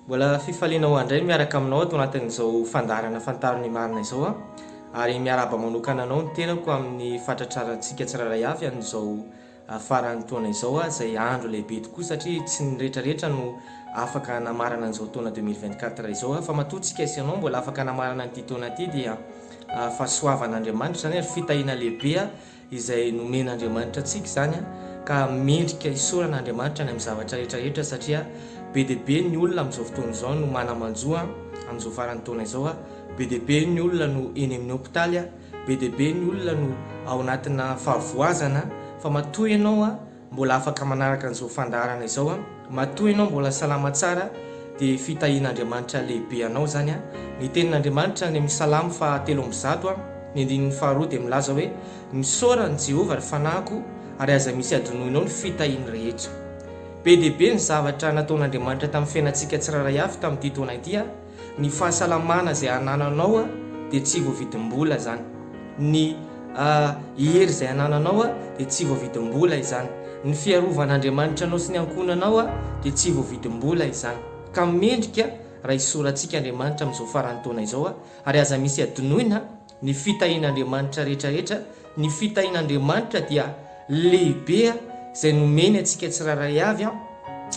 Mbola fifaliana ho handray miaraka aminao ato anatin'izao fandaharana Fantaro ny Marina izao aho ary miarahaba manokana anao ny tenako amin'ny fahatratrarantsika tsirairay avy an'izao ah, faran'ny taona izao ah, izay andro lehibe tokoa satria tsy ny retraretra no afaka hanamarana an'izao taona 2024 izao ah, fa matoa tsika sy ianao mbola afaka hanamarana an'ity taona ity dia ah, fahasoavan'Andriamanitra izany ary fitahiana lehibe ah, izay nomen'Andriamanitra antsika izany ka mendrika isaorana Andriamanitra ny amin'ny zavatra rehetra rehetra satria be dia be ny olona amin'izao fotoana izao no manamanjo amin'izao faran'ny taona izao be dia be ny olona no eny amin'ny hopitaly be dia be ny olona no ao anatina fahavoazana fa matoa ianao Mbola afaka manaraka an'izao fandaharana izao an! Matoa ianao mbola salama tsara dia fitahian'Andriamanitra lehibe anao izany an! Ny tenin'Andriamanitra any amin'ny Salamo faha telo amby zato an, ny andininy faha roa dia milaza hoe, Misaora an'i Jehovah ry fanahiko ary aza misy adinoinao ny fitahiany rehetra. Be dia be ny zavatra nataon'Andriamanitra tamin'ny fiainantsika tsirairay avy tamin'ity taona ity an! Ny fahasalamana izay anananao dia tsy voavidim-bola izany. Ny hery izay anananao dia tsy voavidim-bola izany. Ny fiarovan'Andriamanitra anao sy ny ankohonanao dia tsy voavidim-bola izany. Ka mendrika raha hisorantsika Andriamanitra amin'izao faran'ny taona izao ary aza misy adinoina. Ny fitahian'Andriamanitra rehetrarehetra, ny fitahian'Andriamanitra dia lehibe izay nomeny antsika tsirairay avy an,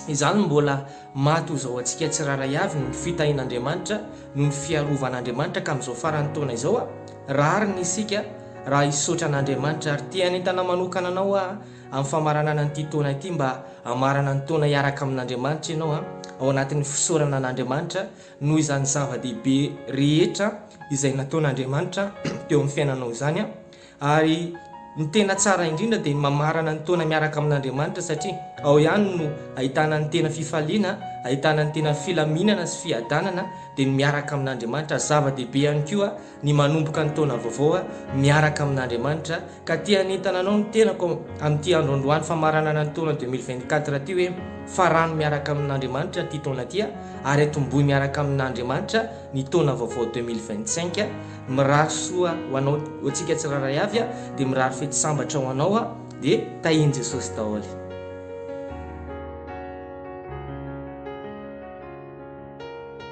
izany no mbola maha toy izao antsika tsirairay avy ny fitahian'Andriamanitra noho ny fiarovan'Andriamanitra ka amin'izao faran'ny taona izao an, rariny isika raha hisaotra an'Andriamanitra ary te hanentana manokana anao aho amin'ny famaranana an'ity taona ity mba hamarana ny taona hiaraka amin'Andriamanitra ianao an, ao anatin'ny fisaorana an'Andriamanitra Noho izany zava-dehibe rehetra izay nataon'Andriamanitra teo amin'ny fiainanao izany, ary ny tena tsara indrindra dia ny mamarana ny taona miaraka amin'Andriamanitra satria ao ihany no ahitana ny tena fifaliana, ahitana ny tena filaminana sy fiadanana dia ny miaraka amin'Andriamanitra, zava-dehibe ihany koa ny manomboka ny taona vaovao miaraka amin'Andriamanitra ka te hanentana anao ny tenako amin'ity andro androany famaranana ny taona 2024 ity hoe farano miaraka amin'Andriamanitra ity taona ity ary atombohy miaraka amin'Andriamanitra ny taona vaovao 2025 mirary soa ho anao ho antsika tsirairay avy dia mirary fety sambatra ho anao dia tahian'i Jesosy daholo